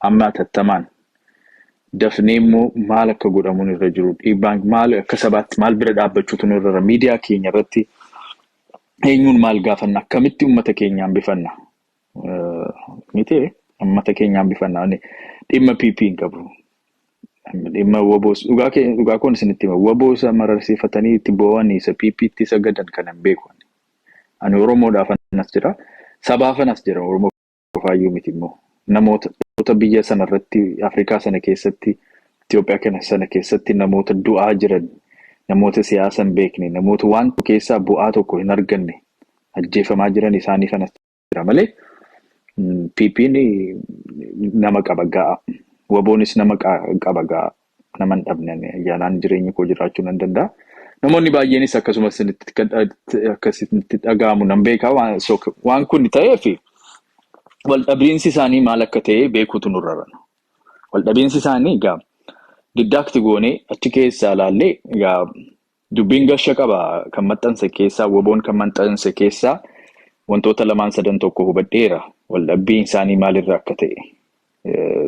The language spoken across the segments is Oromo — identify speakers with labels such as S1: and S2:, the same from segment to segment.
S1: Amma atattamaan dafnee immoo maal akka godhamuun irra jiru dhiibbaan maal akka sabaatti maal bira dhaabbachuutu nu irra miidiyaa keenya irratti eenyuun maal gaafanna akkamitti uummata keenya hambifanna miti uummata keenya hambifanna dhimma PP hin qabu. Dhimma waboos dhugaa kee dhugaa koon isinitti hima waboo isa mararsiifatanii itti boo'anii isa PP itti sagadan kan hin beeku. Ani Oromoodhaaf anas jira sabaaf anas jira Oromoo qofaayyuu miti immoo namoota biyya sana irratti Afrikaa sana keessatti Itoophiyaa kana sana keessatti namoota du'aa jiran namoota siyaasa hin beekne namoota waan tokko keessaa bu'aa tokko hin arganne ajjeefamaa jiran isaanii fanas jira malee PP'n nama qaba ga'a. Waboonis nama qaba ga'a. nama hin dhabne ani ayyaanaan jireenya koo jiraachuu nan danda'a. Namoonni baay'eenis akkasumas isinitti kan dha- akka isinitti dhaga'amu nan beeka waan so waan kun ta'eef wal dhabiinsi isaanii maal akka ta'e beekuutu nurra jira. Wal dhabiinsi isaanii egaa diddaakti goonee achi keessaa ilaallee egaa Dubbiin gasha qaba kan maxxanse keessaa woboon kan maxxanse keessaa wantoota lamaan sadan tokko hubadheera waldhabbiin isaanii maalirra akka ta'e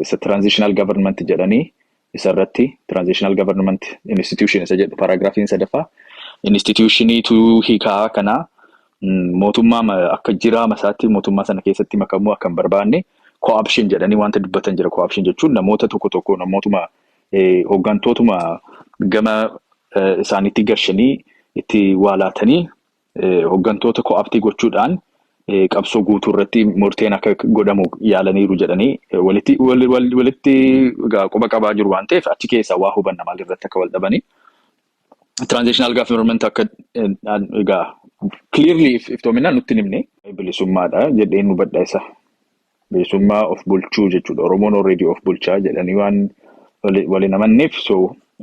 S1: isa transitional government jedhanii isa irratti transitional government institution isa jedhu paragraafiin sadaffaa institutioniitu hiikaa kanaa mootummaa akka jiraa masaatti mootummaa sana keessatti makamuu akka hin barbaanne cooption jedhanii wanta dubbatan jira cooption jechuun namoota tokko tokko namootuma hooggantootuma gama isaaniitti gashanii itti waa laatanii hooggantoota ko'aaptii gochuudhaan qabsoo guutuu irratti murteen akka godhamu yaalaniiru jedhanii walitti walitti quba qabaa jiru waan ta'eef achi keessaa waa hubanna maal irratti akka wal dhabanii. Transitional government akka egaa clearly iftoominaan nutti himne. Bilisummaadha jedheen hubadha isa. bilisummaa of bulchuu jechuudha. Oromoon already of bulchaa jedhanii waan wali- wal hin amanneef so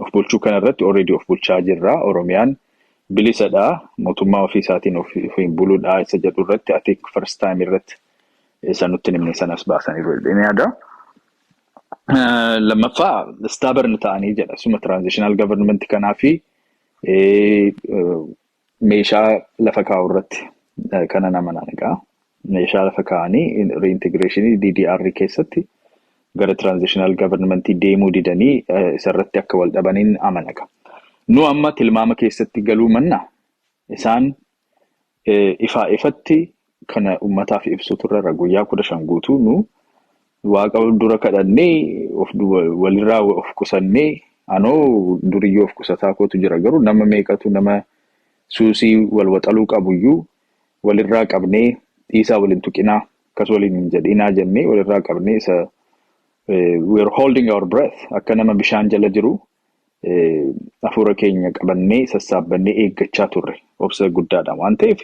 S1: of bulchuu kana irratti already of bulchaa jirra. Oromiyaan bilisadha. Mootummaa ofii isaatiin of- ofiin buludha isa jedhu irratti I think first time irratti isa nutti hin himne sanas baasaniiru jedheen yaada. Eh, Lammaffaa stubborn ta'anii jedha. Suma transitional government kanaa fi eh, eh, Meeshaa lafa kaa'u irratti kana nama naqa. Meeshaa lafa kaa'anii reintegration DDR keessatti gara transitional government deemuu didanii isarratti akka wal dhabaniin amanaka. Nu amma tilmaama keessatti galuu manna isaan ifaa ifatti kana ummataaf ibsuutu irra irra guyyaa kudha shan guutuu nu waaqa dura kadhannee of duba- walirraa of qusannee anoo duriyyoo of qusataa kootu jira garuu nama meeqatu nama suusii wal waxaluu qabuyyuu walirraa qabnee dhiisaa waliin tuqinaa akkas waliin hin jedhinaa jennee walirraa qabnee isa eh, we are holding our breath akka nama bishaan jala jiru hafuura keenya qabannee sassaabbannee eeggachaa turre obsa guddaadhaan waan ta'eef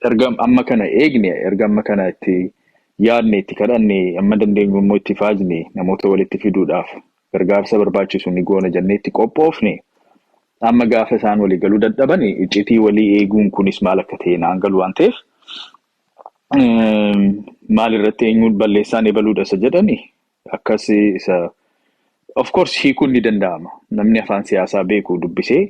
S1: erga amma kana eegne erga amma kana itti yaadne itti kadhanne amma dandeenyu immoo itti faajne namoota walitti fiduudhaaf gargaarsa barbaachisu ni goona jennee itti qophoofne amma gaafa isaan walii galuu dadhaban iccitii walii eeguun kunis maal akka ta'e naan galu waan ta'eef maal irratti eenyuun balleessaan ebaluudha isa jedhani Akkas isa of course hiikuun ni danda'ama. Namni afaan siyaasaa beeku dubbisee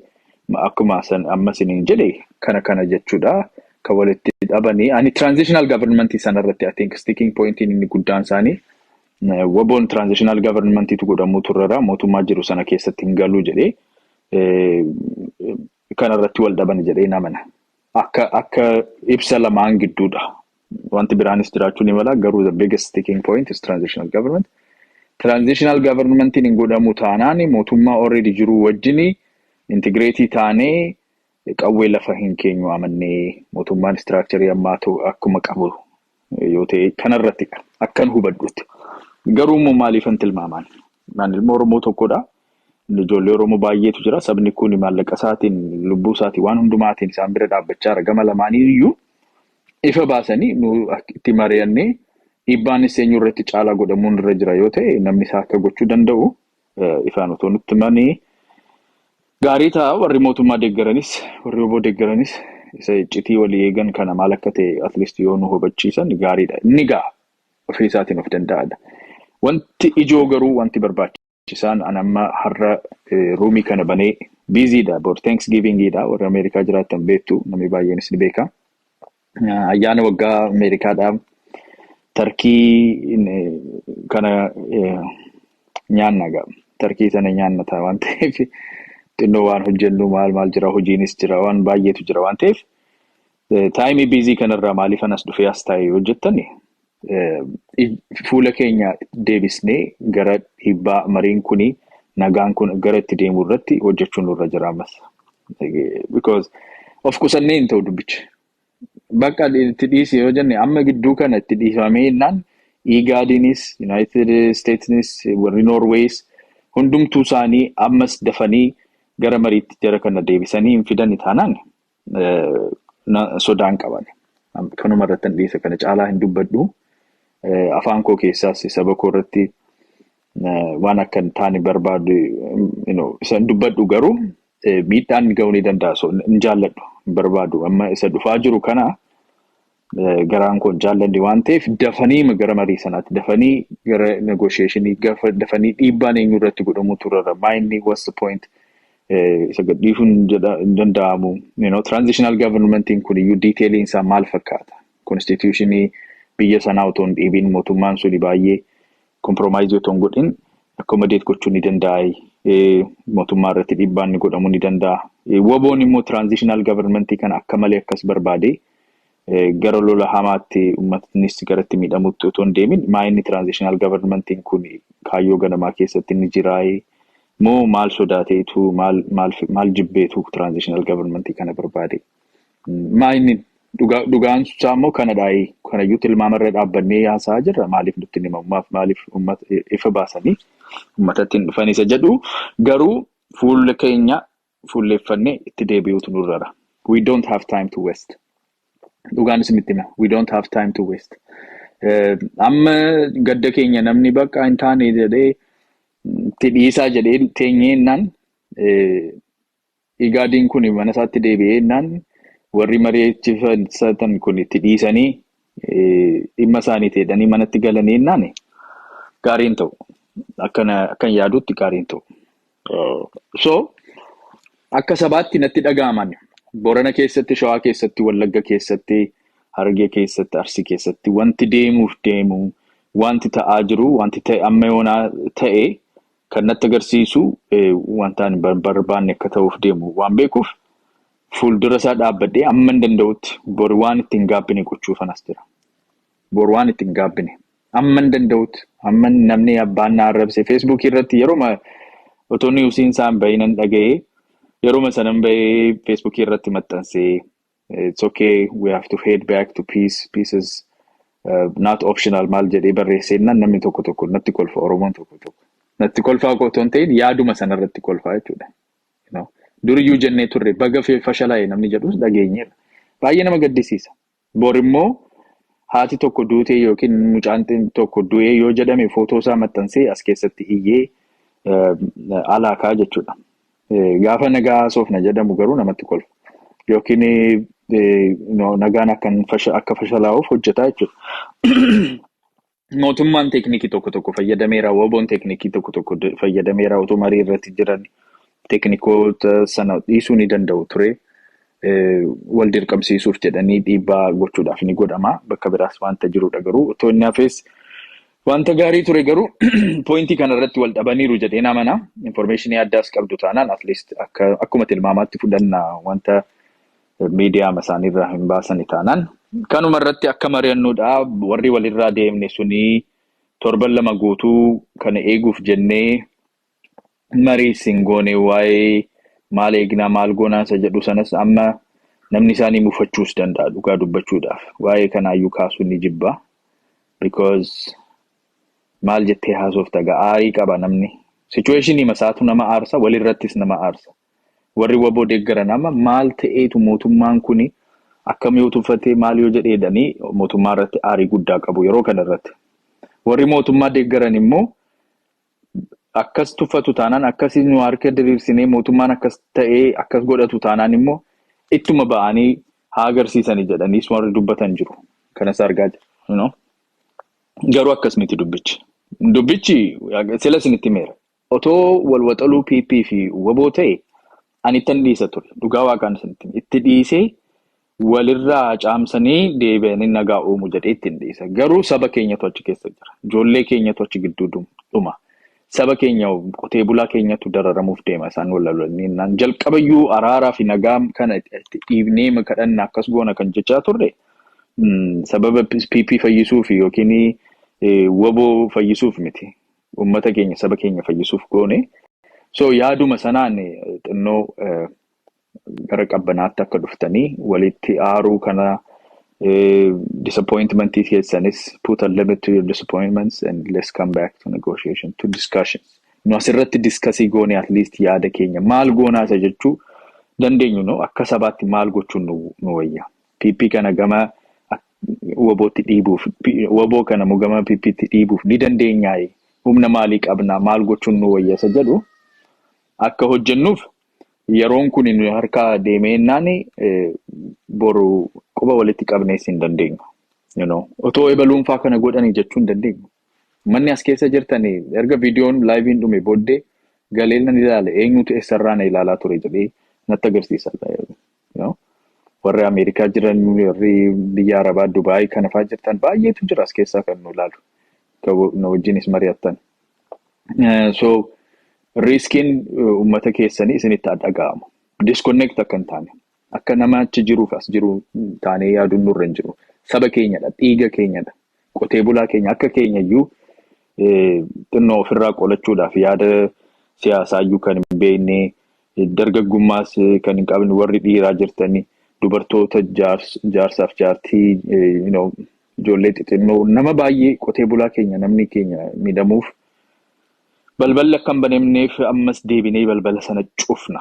S1: akkuma san amma isiniin jedhe kana kana jechuudha. Kan walitti dhabanii ani transitional government sana irratti I think sticking point inni guddaan isaanii waboon transitional government tu godhamuu turrera mootummaa jiru sana keessatti hin galuu jedhee kana irratti wal dhabani jedhee hin amana. Akka akka ibsa lamaan gidduudha. Wanti biraanis jiraachuu ni mala garuu the biggest sticking point is transitional government. Transitional governmentiin hin godhamu taanaan mootummaa already jiruu wajjini intigireetii taanee qawwee lafa hin keenyu amannee mootummaan istiraakcharii ammaa ta'u akkuma qabu yoo ta'e kanarrattidha akkan hubadhutti. Garuu immoo maaliifan tilmaamaan? Naan ilma Oromoo tokkodha. Ijoollee Oromoo baay'eetu jira. Sabni kun maallaqa isaatiin, lubbuu isaatiin, waan hundumaatiin isaan bira dhaabbachaa jira. Gama lamaanii iyyuu ifa baasanii nu itti mari'annee dhiibbaanis eenyu irratti caalaa godhamuun irra jira yoo ta'e namni isaa akka gochuu danda'u ifaan otoo nutti himanii gaarii ta'a warri mootummaa deeggaranis warri oboo deeggaranis isa iccitii walii eegan kana maal akka ta'e atleast yoo nu hubachiisan gaariidha inni gaa ofii isaatiin of danda'adha wanti ijoo garuu wanti barbaachisaan an amma har'a ruumii kana banee biiziidha bor thanks givingiidha warra ameerikaa jiraattan beektu namni baay'eenis ni beeka Ayyaana waggaa Ameerikaadhaa tarkii kana nyaanna egaa. Tarkii sana nyaanna ta'a waan ta'eef xinnoo waan hojjennu maal maal jira hojiinis jira waan baay'eetu jira waan ta'eef taayimii biizii kanarraa maaliif anas dhufee as taa'e yoo jettan fuula keenya deebisnee gara dhiibbaa mariin kun nagaan kun gara itti deemu irratti hojjechuun nurra jira ammas. Because of qusannee hin ta'u dubbichi. Bakka itti dhiisi yoo jenne amma gidduu kana itti dhiifamee jennaan Igaadiinis, Yuunaayitid Isteetsinis, warri Noorweeyis hundumtuu isaanii ammas dafanii gara mariitti jara kana deebisanii hin fidani taanaan sodaan qaban. Kanuma irratti hin dhiise kana caalaa hin dubbadhu. Afaan koo keessaas saba koo irratti waan akka hin taane barbaadu isa hin dubbadhu garuu miidhaan ga'uu ni danda'a. Hin jaalladhu hin barbaadu. Amma isa dhufaa jiru kana eh, garaan koo hin jaallanne waan ta'eef dafanii gara marii sanaatti dafanii gara negotiationii gafa- dafanii dhiibbaan eenyu irratti godhamuu turarra maayinni what's the point eh, isa gadhiisuun jedha hin danda'amu you know, transitional governmentiin kun iyyuu diiteeliin isaa maal fakkaata konstituushinii biyya sanaa otoo hin dhiibiin mootummaan suni baay'ee komproomaayizii otoo hin godhin akkomodeet gochuu ni danda'a eh, mootummaa irratti dhiibbaan ni godhamuu ni danda'a Eh, waboon immoo transitional governmentii kana akka malee akkas barbaade gara lola hamaatti uummatnis gara itti miidhamutti otoo hin deemin maa inni tiraanzishinaal gavarmentiin kun kaayyoo ganamaa keessatti ni jiraayee moo maal sodaateetu maal maal maal jibbeetu tiraanzishinaal gavarmentii kana barbaade maa inni dhugaa dhugaan isaa immoo kanadhaayii kanayyuu tilmaamarra dhaabbannee haasa'aa jirra maaliif nutti hin himamu maaf maaliif uummata ifa baasanii uummatatti hin dhufan isa jedhu garuu fuulli keenya fuulleeffannee itti deebi'uutu nurrara. We don't have time to waste. Dhugaan isinitti hima. We don't have time to waste. Eh, Amma gadda keenya namni bakka hin taane jedhee itti dhiisaa jedhee teenyee innaan eh, igaadiin kun mana isaatti deebi'ee innaan warri mari'achiifatan kun itti dhiisanii dhimma isaaniiti jedhanii manatti galanii innaan gaariin ta'u. Akkan yaadutti gaariin ta'u. So akka sabaatti natti dhaga'aman Boorana keessatti, Shawaa keessatti, Wallagga keessatti, Harargee keessatti, Arsii keessatti wanti deemuuf deemu, wanti ta'aa jiru, wanti ta'e amma yoonaa ta'e kan natti agarsiisu wantaan hin barbaanne akka ta'uuf deemu waan beekuuf Fuuldura isaa dhaabbadhee amman danda'utti bor waan itti hin gaabbine gochuufan as jira. Bor waan itti hin gaabbine. Amman danda'utti amman namni abbaan na arrabse feesbuukii irratti yeroma otoo niwusiin isaan bahee nan dhaga'ee yeroma sanan bahee feesbuukii irratti maxxansee it's okay we have to head back to peace peace is uh, not optional maal jedhee barreesseennaan namni tokko tokko natti kolfa oromoon tokko tokko natti kolfaa koo otoo hin ta'in yaaduma sanarratti kolfaa jechuudha. Duriyyuu jennee turre baga fashalaa'e namni jedhus dhageenyeerra. Baay'ee nama gaddisiisa. Borimmoo haati tokko duutee yookiin mucaan tokko du'ee yoo jedhame footoo isaa maxxansee as keessatti iyyee alaa ka'a jechuudha. Gaafa nagaa haasofna jedhamu garuu namatti kolfa. Yookiin nagaan akka fashalaa'uuf hojjetaa jechuudha. Mootummaan teeknikii tokko tokko fayyadameera, WBOn teeknikii tokko tokko d- fayyadameera. Otoo marii irratti jiran teeknikoota sana dhiisuu ni danda'u ture. Eh, Wal dirqamsiisuuf jedhanii dhiibbaa gochuudhaaf ni godhama. Bakka biraas wanta jirudha garuu otoo inni hafees wanta gaarii ture garuu poointii kana irratti wal dhabaniiru jedheen amana. Infoormeeshinii addaas qabdu taanaan at least akka, akkuma tilmaamaatti fudhanna wanta miidiyaama isaaniirraa hin baasani taanaan kanuma irratti akka mari'annuudha. Warri walirraa deemne sunii torban lama guutuu kana eeguuf jennee marii isin goone waa'ee maal eegnaa maal goonaa isa jedhu sanas amma namni isaanii mufachuus danda'a dhugaa dubbachuudhaaf. Waa'ee kanaayyuu kaasuun ni jibba. Because maal jettee haasofta egaa aarii qaba namni. Situationii masaatu nama aarsa walirrattis nama aarsa. Warri waboo deeggaran amma maal ta'eetu mootummaan kuni akkam yoo tuffatee maal yoo jedhee jedhanii mootummaa irratti aarii guddaa qabu yeroo kana irratti. Warri mootummaa deeggaran immoo akkas tuffatu taanaan akkasii nu harka diriirsinee mootummaan akkas ta'ee akkas godhatu taanaan immoo ittuma ba'anii haa agarsiisanii jedhaniis warri dubbatan jiru. Kanas argaa jira. you know. Garuu akkas miti dubbichi. Dubbichi sila isinitti himeera. Otoo wal waxaluu PP fi wbo ta'e ani ittan dhiisa ture. Dhugaa waaqaan isinitti hima. Itti dhiisee walirraa caamsanii deebi'anii nagaa uumu jedhee ittin dhiisa. Garuu saba keenyatu achi keessa jira. Ijoollee keenyatu achi gidduu dhuma. Saba keenya qotee bulaa keenyatu dararamuuf deema isaan wal lolanii jennaan. Jalqabayyuu araaraa fi nagaa kana itti dhiibnee ma kadhanna akkas goona kan jechaa turre sababa PP fayyisuuf yookiin wbo fayyisuuf miti. uummata keenya saba keenya fayyisuuf goone. So yaaduma sanaan xinnoo gara qabbanaatti akka dhuftanii walitti aaruu kana disappointment keessanis put a limit to your disappointments and let's come back to negotiation to discussions. Nu asirratti diskasii goone at least yaada keenya maal goonaa isa jechuu dandeenyu no akka sabaatti maal gochuun nu wayya. PP kana gama wabootti dhiibuuf waboo kana mugamaa PPtti dhiibuuf ni dandeenyaay humna maalii qabna maal gochuun nu wayyasa jedhu akka hojjennuuf yeroon kun nu harkaa deemee innaan boru quba walitti qabnees hin dandeenyu. You know, otoo ebaluunfaa kana godhanii jechuu hin dandeenyu. Manni as keessa jirtanii erga viidiyoon laayiviin dhume booddee galeellan ilaale eenyutu eessarraa na ilaalaa ture jedhee natti agarsiisa. Warri Ameerikaa jiran, warri biyya Arabaa, Dubaayii kana fa'aa jirtan baay'eetu jira as keessaa kan nu ilaalu. Na wajjinis mari'attan. So riiskiin uummata keessanii isinitti haa dhaga'amu. Disconnect akka hin taane. Akka nama achi jiruuf as jiru taanee yaaduun nurra hin jiru. Saba keenyadha, dhiiga keenyadha. Qotee bulaa keenya akka keenya iyyuu xinnoo ofirraa qolachuudhaaf yaada siyaasaa iyyuu kan hin beekne dargaggummaas kan hin qabne warri dhiiraa jirtanii dubartoota jaarsaaf jaartii ijoollee xixinnoo nama baay'ee qotee bulaa keenya namni keenya miidhamuuf balballi akka hin banemneef ammas deebinee balbala sana cufna.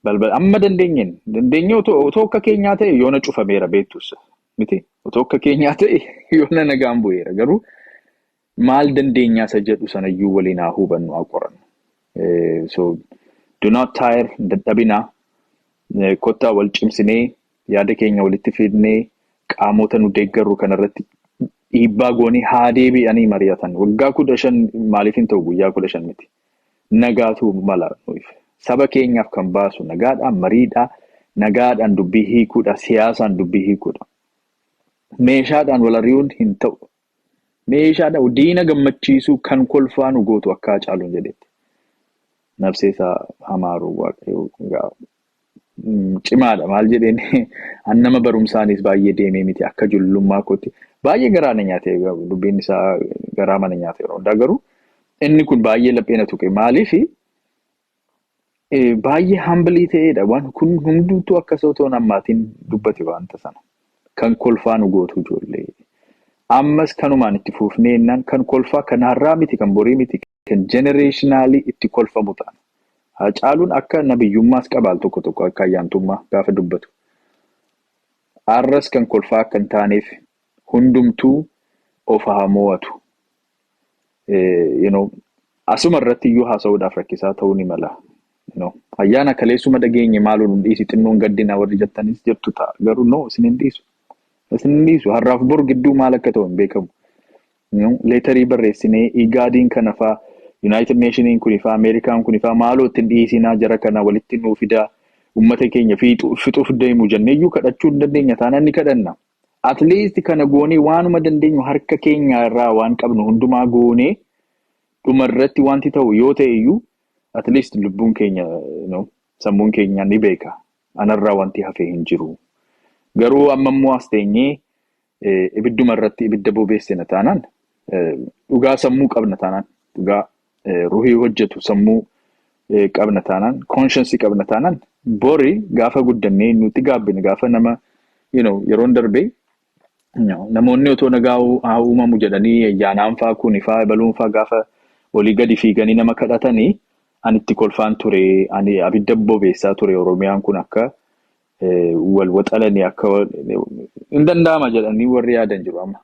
S1: Balbala amma dandeenyeen dandeenyee otoo akka keenyaa ta'e yoona cufameera beektus Miti otoo akka keenyaa ta'e yoona nagaan bu'eera garuu maal dandeenyaa isa jedhu sanayyuu waliin haa hubannu haa qorannu. Eh, So do not tire hin dadhabinaa Eh, kottaa wal cimsinee yaada keenya walitti fidnee qaamota nu deeggarru kanarratti dhiibbaa goonee haa deebi'anii mari'atan waggaa kudha shan maaliif hin ta'u guyyaa kudha shan miti Nagaatu mala nuuf. Saba keenyaaf kan baasu nagaadha, mariidha, nagaadhaan dubbii hiikuudha, siyaasaan dubbii hiikuudha. Meeshaadhaan wal ari'uun hin ta'u. Meeshaadhaan diina gammachiisuu kan kolfaa nu gootu akka Haacaaluun jedhetti. Nabsee isaa hamaaru waaqayyo gaa cimaadha maal jedheen an nama barumsaanis baay'ee deemee miti akka jullummaa kootti baay'ee garaa na nyaate dubbiin isaa garaa mana nyaate yeroo hundaa garuu inni kun baay'ee laphee na tuqe maaliif baay'ee hambilii ta'eedha waan kun hundumtuu akka isa otoo nammaatiin dubbate waanta sana kan kolfaa nu gootu ijoollee ammas kanumaan itti fuufnee innaan kan kolfaa kan har'aa miti kan borii miti. kan generationally itti kolfamu taana. Haacaaluun akka nabiyyummaas qaba al tokko tokko akka ayyaantummaa gaafa dubbatu. Arras kan kolfaa akka hin taaneef hundumtuu of haa mo'atu. You know, asuma irratti iyyuu haasa'uudhaaf rakkisaa ta'uu ni mala. You know, ayyaana kaleessuma dhageenye maaloo nu dhiisi xinnoon gaddina warri jettanis jettu ta'a. Garuu no isin hin dhiisu. Isin hin dhiisu. Har'aaf bor gidduu maal akka ta'u hin beekamu. Nu leetarii barreessinee Igaadiin kanafaa, Yunaayitid Neeshiniin kunifaa, Ameerikaan kunifaa maaloo itti hin dhihisinaa jara kana walitti nuu fidaa ummata keenya fiixu, fixuuf deemu jenneeyyuu kadhachuu hin dandeenya taanaan ni kadhanna. At least kana goonee waanuma dandeenyu harka keenyaa irraa waan qabnu hundumaa goonee dhuma irratti waanti ta'u yoo ta'e iyyuu at least lubbuun keenya no, sammuun keenya ni beeka anarraa wanti hafee hin jiru. Garuu amma immoo as teenyee ibidduma irratti ibidda bobeessina taanaan dhugaa sammuu qabna taanaan dhugaa ruhii hojjetu sammuu qabna taanaan koonshansii qabna taanaan bori gaafa guddannee nuti gaabbine gaafa nama you know yeroon darbee namoonni otoo nagaa haa uumamu jedhanii ayyaanaan faa kuuni faa ebaluun faa gaafa olii gadi fiiganii nama kadhatanii ani itti kolfaan ture ani abidda bobeessaa ture oromiyaan kun akka eh, wal waxalanii akka wal- hin danda'ama jedhanii warri yaadan jiru amma.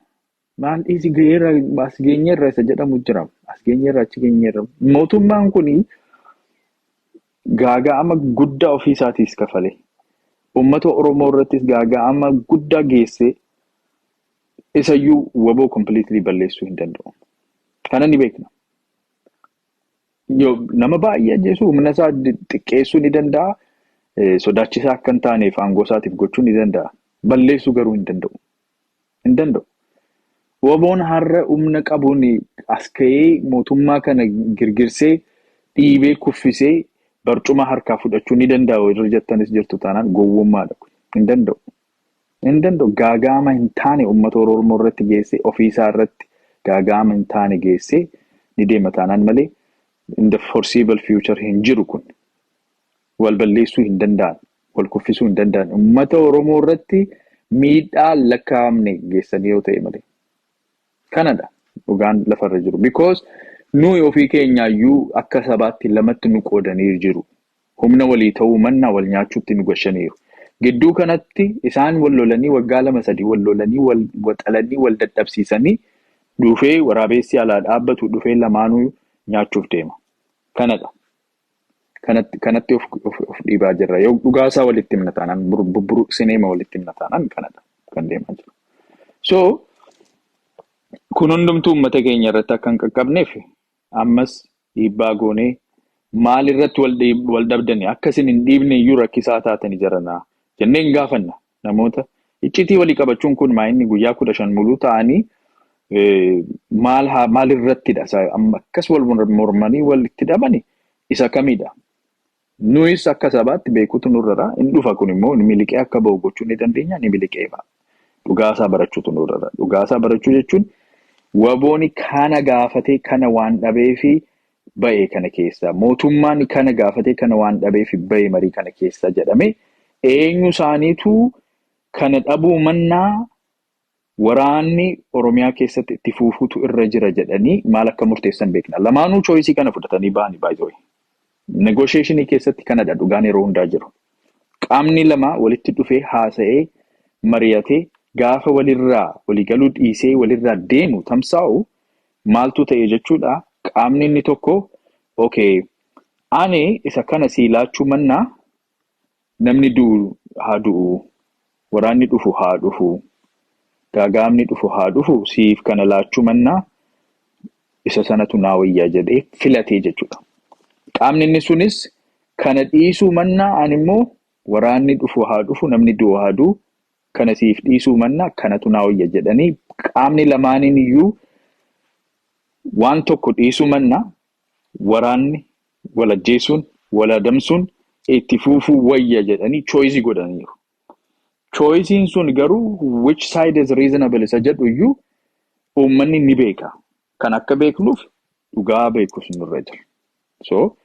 S1: Maal dhiisi ga'eerra as geenyeerra isa jedhamu jira. As geenyeerra achi geenyeerra. Mootummaan kun gaaga'ama guddaa ofii isaatiis kafale. Uummata Oromoo irrattis gaaga'ama guddaa geessee isayyuu waboo kompiliitilii balleessuu hin danda'u. Kana ni beekna. Yoo nama baay'ee ajjeesu humna isaa di- xiqqeessuu ni danda'a. Eh, Sodaachisaa akka hin taaneef aangoo isaatiif gochuu ni danda'a. Balleessuu garuu hin danda'u. Hin danda'u. Waboon har'a humna qabuun as ka'ee mootummaa kana girgirsee dhiibee kuffisee barcuma harkaa fudhachuu ni danda'a irra jettanis jirtu taanaan gowwummaadha. kun. Hin danda'u. Hin danda'u gaaga'ama hin taane ummata Oromoo irratti geessee ofii isaa irratti gaaga'ama hin taane geessee ni deema taanaan malee in the foreseeable future hin jiru kun. Wal balleessuu hin danda'an, wal kuffisuu hin danda'an ummata Oromoo irratti miidhaa hin lakkaa'amne geessanii yoo ta'e malee. Kanadha dhugaan lafa irra jiru because nuyi ofii keenyaayyuu akka sabaatti lamatti nu qoodanii jiru. Humna walii ta'uu mannaa wal nyaachuutti nu gashaniiru. Gidduu kanatti isaan wal lolanii waggaa lama sadii wal lolanii wal waxalanii wal dadhabsiisanii dhufee waraabeessi alaa dhaabbatu dhufee lamaanuu nyaachuuf deema. Kanadha. Kanatti, kanatti of, of, of dhiibaa jirra. Yoo dhugaa isaa walitti himna taanaan, bur- bubburuqsineema walitti himna taanaan kanadha kan deemaa jiru. So, kun hundumtuu uummata keenya irratti akka hin qaqqabneef Ammas dhiibbaa goonee maal irratti wal dhabdani akka isin hin dhiibne iyyuu rakkisaa taatani jaranaa jennee hin gaafanna namoota iccitii walii qabachuun kun maa inni guyyaa kudha shan muluu ta'anii maal haa maal irrattidha isa amma akkas wal mormanii wal itti dhabani isa kamidha Nuyis akka sabaatti beekuutu nurra jira. Hin dhufa kun immoo ni miliqee akka bahu gochuu ni dandeenya, ni miliqee ba'a. Dhugaa isaa barachuutu nurra jira. Dhugaa isaa barachuu jechuun wabooni kana gaafatee kana waan dhabeefi ba'e kana keessa, mootummaan kana gaafatee kana waan dhabeefi ba'e marii kana keessa jedhamee eenyu isaaniitu kana dhabuu mannaa Waraanni Oromiyaa keessatti itti fuufuutu irra jira jedhanii maal akka murteessan beekna. Lamaanuu choice kana fudhatanii bahani by the way. Negotiation keessatti kanadha dhugaan yeroo hundaa jiru. Qaamni lama walitti dhufee haasa'ee mariyatee gaafa walirraa waligaluu dhiisee walirraa deemu tamsaa'u maaltuu ta'e jechuudha qaamni inni tokko okay ani isa kana sii laachuu mannaa Namni du'u haa du'u, waraanni dhufu haa dhufu, gaaga'amni dhufu haa dhufu siif kana laachuu mannaa isa sanatu naa wayya jedhee filatee jechuudha. Qaamni inni sunis kana dhiisuu mannaa ani immoo waraanni dhufu haa dhufu, namni du'u haa du'u kana siif dhiisuu mannaa kanatu naa wayya jedhanii qaamni lamaaniin iyyuu waan tokko dhiisuu mannaa waraanni wal ajjeesuun, wal adamsuun itti fuufuu wayya jedhanii choice godhaniiru. Choice'n sun garuu which side is reasonable isa jedhu iyyuu uummanni ni beeka. Kan akka beeknuuf dhugaa beekus nurra jira. So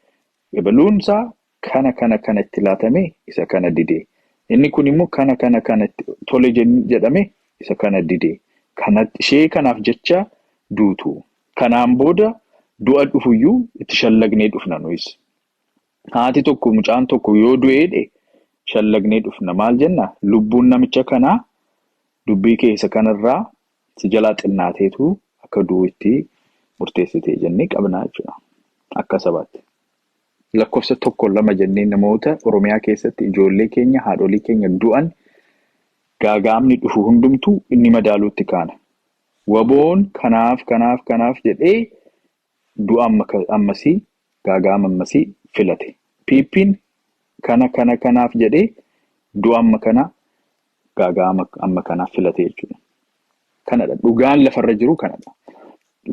S1: ebaluun isaa kana kana kana itti laatame isa kana dide. Inni kun immoo kana kana kana itti tole jedhame isa kana dide. Kana ishee kanaaf jecha duutu. Kanaan booda du'a dhufuyyuu itti shallagnee dhufna nuyis. Haati tokko mucaan tokko yoo du'eedhe shallagnee dhufna. Maal jenna? Lubbuun namicha kanaa dubbii kee isa kanarraa si jalaa xinnaateetu akka du'u itti murteessite jennee qabna jechuudha. Akka sabaatti. Lakkofsa tokko lama jennee namoota Oromiyaa keessatti ijoollee keenya, haadholii keenya du'an gaaga'amni dhufu hundumtuu ni madaaluutti kaana. Waboon kanaaf kanaaf kanaaf jedhee du'a ammasii, gaaga'ama ammasii filate. PPn kana kana kanaaf jedhee du'a amma kanaa, gaaga'ama amma kanaa filate jechuudha. Kanadha dhugaan lafarra jiru kanadha.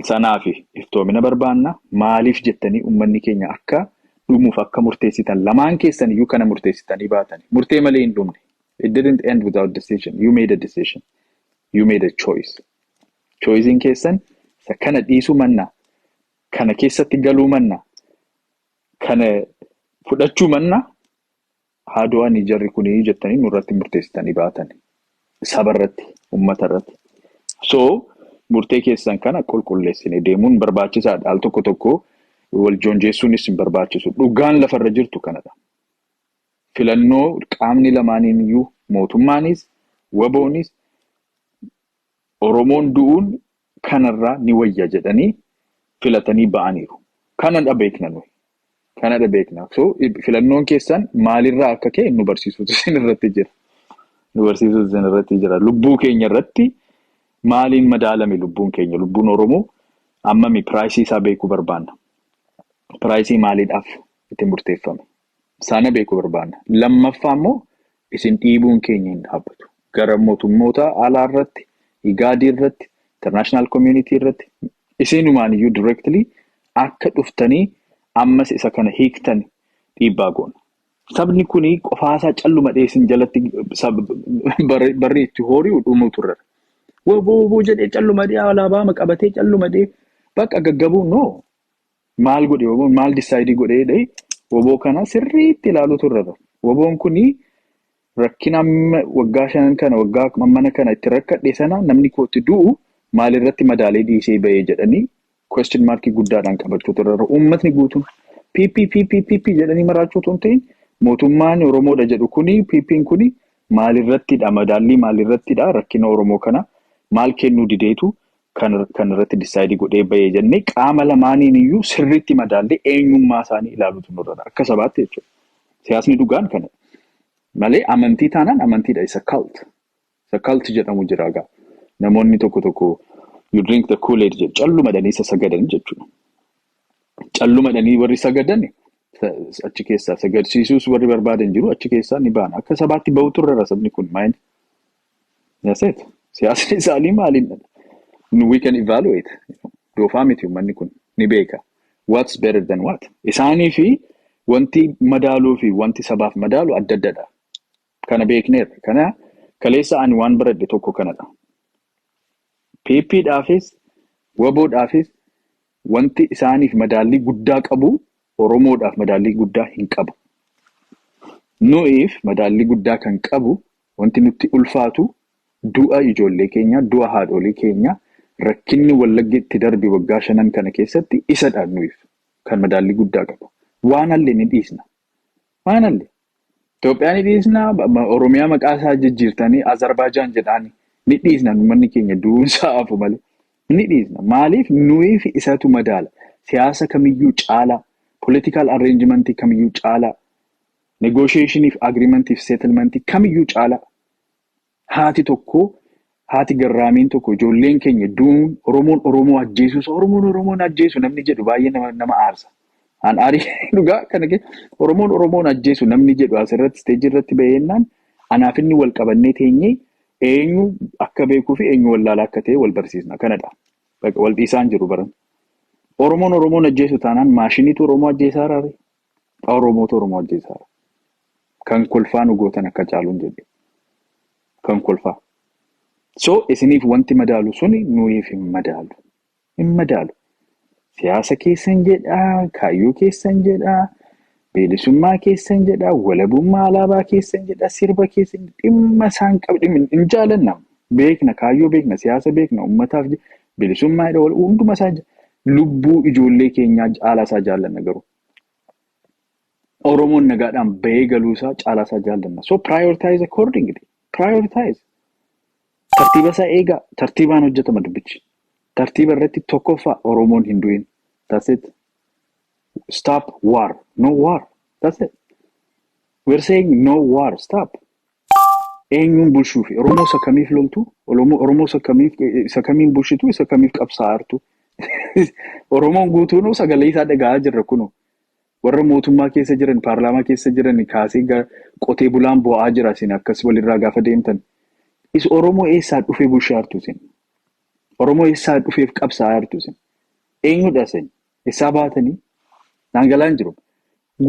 S1: Sanaafi iftoomina barbaanna. Maaliif jettanii ummanni keenya akka dhumuuf akka murteessitan lamaan keessan iyyuu kana murteessitanii baatani. Murtee malee hin dhumne. it didn't end without decision you made a decision you made a choice choicein keessan isa kana dhiisuu manna kana keessatti galuu manna kana fudhachuu manna haa du'anii jarri kunii jettanii nurratti murteessitanii baatan saba irratti ummata irratti so murtee keessan kana qulqulleessine deemuun barbaachisaadha al tokko tokko wal joonjeessuunis hin barbaachisu dhugaan lafarra jirtu kanadha filannoo qaamni lamaaniiniyyuu mootummaanis waboonis Oromoon du'uun kanarraa ni wayya jedhanii filatanii ba'aniiru. Kanadha beekna nuyi. Kanadha beekna. So filannoon keessan maalirraa akka ka'e nu barsiisuutu isin irratti jira. Nu barsiisuutu isin irratti jira. Lubbuu keenya irratti maaliin madaalame lubbuun keenya? Lubbuun Oromoo ammami piraayisii isaa beekuu barbaanna. Piraayisii maaliidhaaf itti murteeffame? Sana beekuu barbaanna. Lammaffaa immoo isin dhiibuun keenya hin dhaabbatu. Gara mootummoota alaa irratti, igaadii irratti, international community irratti isinumaan iyyuu directly akka dhuftanii ammas isa kana hiiktan dhiibbaa goona. Sabni kun qofaasaa calluma dhee isin jalatti barri itti hoori'u dhumuu turre. Woboo woboo jedhee calluma dhee alaabaama qabatee calluma dhee bakka gaggabuun noo Maal godhe woboon maal disaayidii godhee jedhee woboo kana sirriitti ilaaluutu irra jira. Woboon kuni rakkina amma waggaa shanan kana waggaa ammana kana itti rakkadhe sana namni kootti du'u maalirratti madaalee dhiisee bahee jedhanii question markii guddaadhaan qabachuutu irra jira. Uummatni guutuun PP PP PP jedhanii maraachuu otoo hin ta'in mootummaan Oromoodha jedhu kuni PPn kuni maalirrattidha madaallii maalirrattidha rakkina Oromoo kana maal kennuu dideetu kan kan irratti disaayidii godhee bahee jennee qaama lamaaniin iyyuu sirriitti madaallee eenyummaa isaanii ilaaluutu nurra jira. Akka sabaatti jechuudha. Siyaasni dhugaan kana malee amantii taanaan amantiidha isa cult. Isa cult jedhamu jira egaa. Namoonni tokko tokko you drink the kool-aid jedhu callumadhanii isa sagadan jechuudha. Callumadhanii warri sagadan sa- achi keessaa sagadsiisuus warri barbaadan jiru achi keessaa ni baana. Akka sabaatti bahutu irra jira sabni kun maayini. That's it. Siyaasni isaanii maaliin dha? Nu we can evaluate. Doofaa miti uummanni kun ni beeka. What's better than what? Isaanii fi wanti madaaluu fi wanti sabaaf madaalu adda adda dha. Kana beekneerra. Kana kaleessa ani waan baradhe tokko kana dha. PP dhaafis, waboo dhaafis wanti isaaniif madaallii guddaa qabu Oromoodhaaf madaallii guddaa hin qabu. Nu'iif madaallii guddaa kan qabu Wanti nutti ulfaatu du'a ijoollee keenyaa, du'a haadhoolii keenyaa, rakkinni Wallagga itti darbe waggaa shanan kana keessatti isadha nuyiif kan madaallii guddaa qabu. Waan halle ni dhiisna. Waan halle. Itoophiyaa ni dhiisna, Oromiyaa maqaa isaa jijjiirtanii Azarbaajaan jedhaani. Ni dhiisna uummanni keenya du'uun isaa hafu malee. Ni dhiisna. Maaliif nuyiif isatu madaala. Siyaasa kamiyyuu caalaa, political arrangement kamiyyuu caalaa, Negotiation fi agreement fi settlement kamiyyuu caala haati tokko haati garraamiin tokko ijoolleen keenya du'uun Oromoon Oromoo ajjeesuu isaa Oromoon Oromoon ajjeesu namni jedhu baay'ee nama nama aarsa. An aarii dhugaa kana kee Oromoon Oromoon ajjeesu namni jedhu asirratti isteejii irratti baheennaan anaaf inni wal qabannee teenyee eenyu akka beekuu fi eenyu wallaalaa akka ta'e wal barsiisna kanadha. Baqa wal dhiisaan jiru baran. Oromoon Oromoon ajjeesu taanaan maashiniitu Oromoo ajjeesaa raare. Haa Oromootu Oromoo ajjeesaara. Kan kolfaa nu gootan akka caaluun jedhe. Kan kolfaa. So isiniif wanti madaalu suni nuyiif hin madaalu. Hin madaalu. Siyaasa keessan jedhaa, kaayyoo keessan jedhaa, bilisummaa keessan jedhaa, walabummaa alaabaa keessan jedhaa, sirba keessan dhimma isaan qabu hin jaalanna. beekna kaayyoo beekna siyaasa beekna ummataaf je- bilisummaa jedha wal hunduma isaa je- lubbuu ijoollee keenyaa caalaa isaa jaallanna garuu Oromoon nagaadhaan bahee galuu isaa caalaa isaa jaallanna so prioritize accordingly prioritize tartiiba isaa eegaa tartiibaan hojjetama dubbichi tartiiba irratti tokkoffaa Oromoon hin du'in that's it stop war no war that's it we're saying no war stop Eenyuun bulshuufi? Oromoo isa kamiif loltu? Olomoo- Oromoo isa kamiif isa kamiin bulchitu? Isa kamiif qabsaa'artu? Oromoon guutuunuu sagalee isaa dhaga'aa jirra kunoo. Warra mootummaa keessa jiran, paarlaamaa keessa jiran kaasee ga- qotee bulaan boo'aa jira isin akkas walirraa gaafa deemtan. Is Oromoo eessaa dhufee bulshaartu isin? Oromoo eessaa dhufeef qabsaa'aartu isin? Eenyudha isin? Essaa baatanii? Naan galaa hin jiru.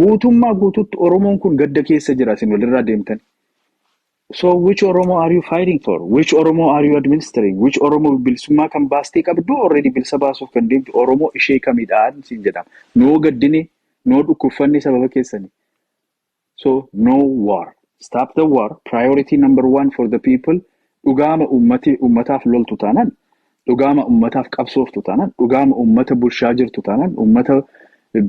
S1: Guutummaa guutuutti Oromoon kun gadda keessa jira isin walirraa deemtanii. So which Oromo are you fighting for? Which Oromo are you administering? Which Oromo bilisummaa kan baastee qabdu already bilisa baasuuf kan deemtu Oromo ishee kamidhaan siin jedhama. Noo gaddine, noo dhukkubfanne sababa keessani. so no war stop the war priority number one for the people dhugaama ummati ummataaf loltu taanan dhugaama ummataaf qabsooftu taanan dhugaama ummata bulshaa jirtu taanan ummata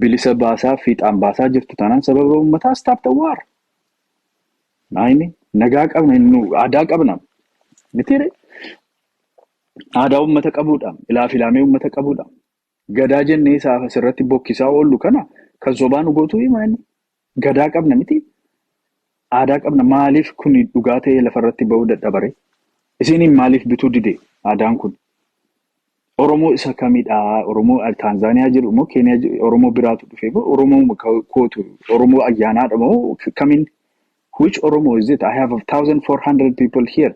S1: bilisa baasaa fiixaan baasaa jirtu taanan sababa ummataa stop the war naayini nagaa qabna nu aadaa qabna mitiire aadaa ummata qabuudha ilaa filaamee ummata qabuudha Gadaa jennee isaaf asirratti bokkisaa oollu kana kan sobaa nu gootuu himaa inni. Gadaa qabna miti aadaa qabna maaliif kun dhugaa ta'ee lafarratti ba'uu dadhabaree? Isiiniin maaliif bituu dide aadaan kun? Oromoo isa kamidhaa? Oromoo Taanzaaniyaa jiru moo Keeniyaa jiru Oromoo biraatu dhufe moo Oromoo kootu Oromoo ayyaanaadha moo kamin? Which Oromo is it? I have 1400 people here.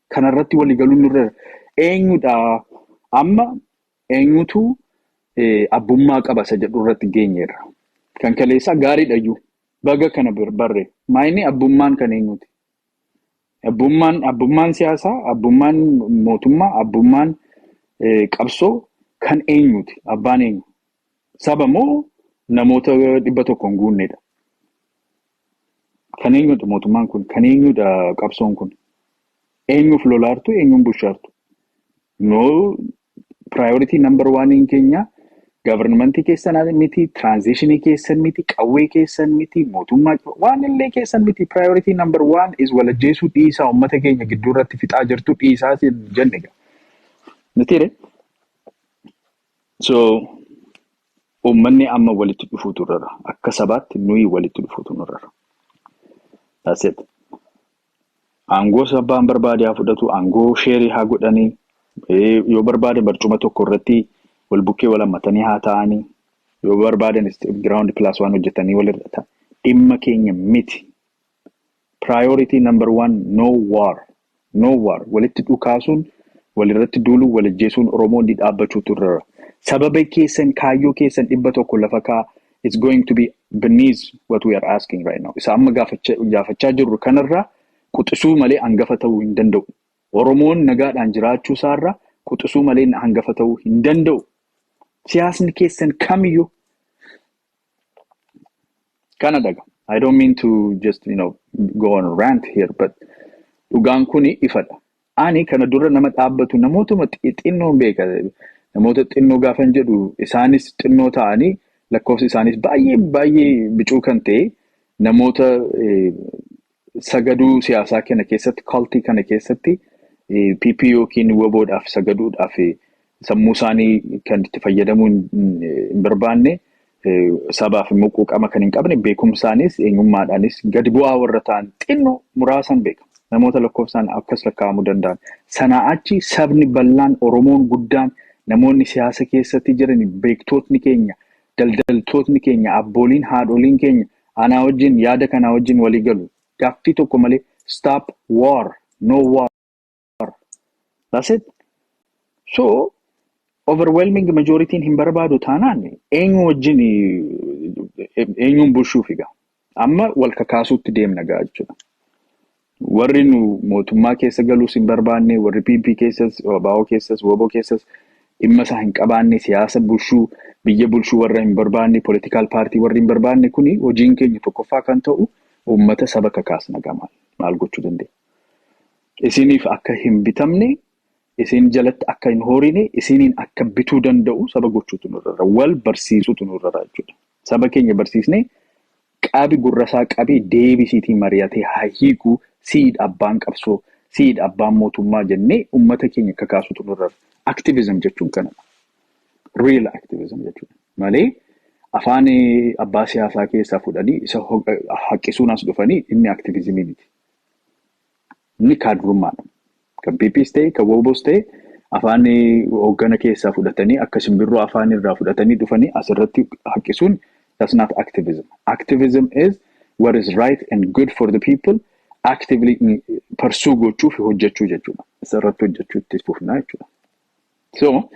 S1: kanarratti waliigaluun nurra eenyudha amma eenyutu abbummaa qaba isa jedhu irratti geenyeerra. Kan kaleessaa gaariidhayyuu baga kana barre maayini abbummaan kan eenyuti? Abbummaan abbummaan siyaasaa, abbummaan mootummaa, abbummaan qabsoo kan eenyuti? Abbaan eenyu? Saba moo namoota dhibba tokko hin guunnedha? Kan eenyudha mootummaan kun? Kan eenyudha qabsoon kun? Eenyuuf lolaartu? Eenyuun bushaartu? No priority number one in keenya governmentii keessan miti, transitionii keessan miti, qawwee keessan miti, mootummaa waan illee keessan miti. Priority number one is walajjeesuu dhiisaa uummata keenya gidduu irratti fixaa jirtu dhiisaa siin jenne. Mitiire? So uummanni amma walitti dhufuutu irrara. Akka sabaatti nuyi walitti dhufuutu nurrara. That's it. Aangoo sabbaan barbaade haa fudhatu, aangoo sheerii haa godhanii, eh, yoo barbaade barcuma tokko irratti wal bukkee wal hammatanii haa taa'anii, yoo barbaadan giraawundi pilaas waan hojjetanii walirra ta'a. Dhimma keenya miti. Priority number one no war no war walitti dhukaasuun walirratti duuluu wal ajjeesuun oromoo ni dhaabbachuutu irra jira sababa keessan kaayyoo keessan dhibba tokko lafa kaa it's going to be beneath what we are asking right now isa amma gaafacha- gaafachaa jirru kanarraa quxisuu malee hangafa ta'uu hin danda'u oromoon nagaadhaan jiraachuu isaarraa quxisuu malee hangafa ta'uu hin danda'u siyaasni keessan kamiyyuu kana daga I don't mean to just you know go on a rant here but dhugaan kun ifadha. Ani kana dura nama dhaabbatu namootuma xi- xinnoon beeka. Namoota xinnoo gaafan jedhu isaanis xinnoo ta'anii lakkoofsi isaanis baay'ee baay'ee bicuu kan ta'e namoota eh, sagaduu siyaasaa kana keessatti kaltii kana keessatti PP yookiin waboodhaaf sagaduudhaaf sammuu isaanii kan itti fayyadamuu hin barbaanne sabaaf immoo quuqama kan hin qabne beekumsaanis eenyummaadhaanis gadi bu'aa warra ta'an xinnoo muraasaan beekama. Namoota lakkoofsaan akkas lakkaa'amuu danda'an. Sanaa achi sabni bal'aan Oromoon guddaan namoonni siyaasa keessatti jiran beektootni keenya daldaltootni keenya abbooliin haadholiin keenya Anaa wajjin yaada kanaa wajjin walii galu. Gaaffii tokko malee stop war, no war. That's it. So overwhelming majoritiin hin barbaadu taanaan eenyu wajjin eenyuun bulchuu figa. Amma wal kakaasuutti deemna gaa jechuudha. Warri nu mootummaa keessa galuus hin barbaanne, warri PP keessas, ABO keessas, WBO keessas dhimma isaa hin qabaanne, siyaasa bulchuu, biyya bulchuu warra hin barbaanne, political party warri hin barbaanne kuni hojiin keenya tokkoffaa kan ta'u uummata saba kakaasna gamaan maal gochuu dandeenya. Isiniif akka hin bitamne, isin jalatti akka hin horine, isiniin akka bituu danda'u saba gochuutu nurra jira. Wal barsiisutu nurra jira jechuudha. Saba keenya barsiisnee Qabi gurrasaa qabi deebisiitii mari'atee haa hiiku Si'id abbaan qabsoo Si'id abbaan mootummaa jennee ummata keenya kakaasutu nurra jira. Activism jechuun kanadha. Real activism jechuun malee afaan abbaa siyaasaa keessaa fudhanii isa haqqisuun as dhufanii inni activism miti. Inni kaadrummaadha. Kan PPs ta'e, kan WBOs ta'e afaan hooggana keessaa fudhatanii akka simbirroo afaan irraa fudhatanii dhufanii asirratti haqqisuun that's not activism. Activism is what is right and good for the people actively pursue gochuu fi hojjechuu jechuudha. Isarratti hojjechuu itti fufnaa jechuudha. So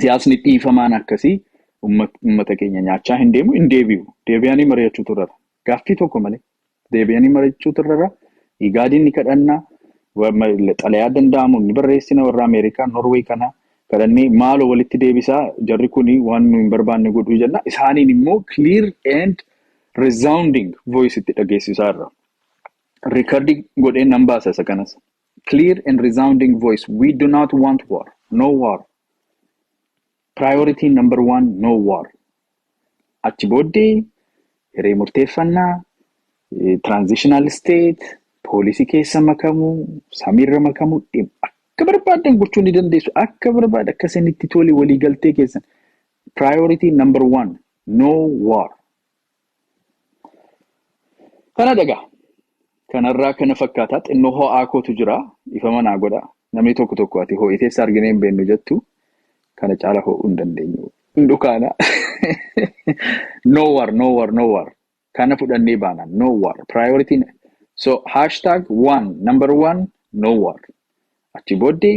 S1: siyaasni dhiifamaan akkasii uummata keenya nyaachaa hin deemu hin deebi'u. Deebi'anii mari'achuutu irra. Gaaffii tokko malee deebi'anii mari'achuutu irra jira. Igaadiin ni kadhanna. wa- ma- Xalayaa danda'amu ni barreessina warra Ameerikaa, Norway kana kadhannee maaloo walitti deebisaa jarri kun waan nu hin barbaanne godhuu jenna. Isaaniin immoo clear and resounding voice itti dhageessisaa irra. Riikardii godhee nan baasa isa kanas. Clear and resounding voice. We do not want war. No war. Priority number one, no war. Achi booddee hiree murteeffannaa, transitional state, poolisii keessa makamuu, samiirra makamuu, dhim- akka barbaaddan gochuu ni dandeessu. Akka barbaad akka isinitti tole waliigaltee keessan. Priority number one, no war. Kana dhagaa. Kanarraa kana fakkaataa xinnoo ho'aa kootu jira. Ifama naa godha. Namni tokko tokko ati ho'itee si arginee hin beeknu jettu kana caala ho'uu hin dandeenyu. Hin dhukaana. no war, no war, no war. Kana fudhannee baana. No war. Priority. So hashtag one, number one, no war. Achi booddee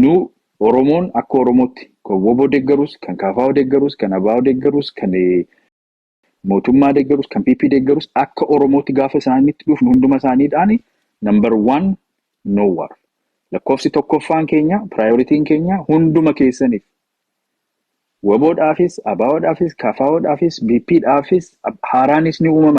S1: Nu Oromoon akka Oromootti kan wbo deeggarus, kan KFO deeggarus, kan ABO deeggarus, kan mootummaa deeggarus, kan PP deeggarus akka Oromootti gaafa isaanitti dhufnu hunduma isaaniidhaan number one no war. Lakkoofsi tokkoffaan keenya, prioritiin keenya hunduma keessaniif. Wbo dhaafis, ABO dhaafis, KFO dhaafis, BP dhaafis haaraanis ni uumama.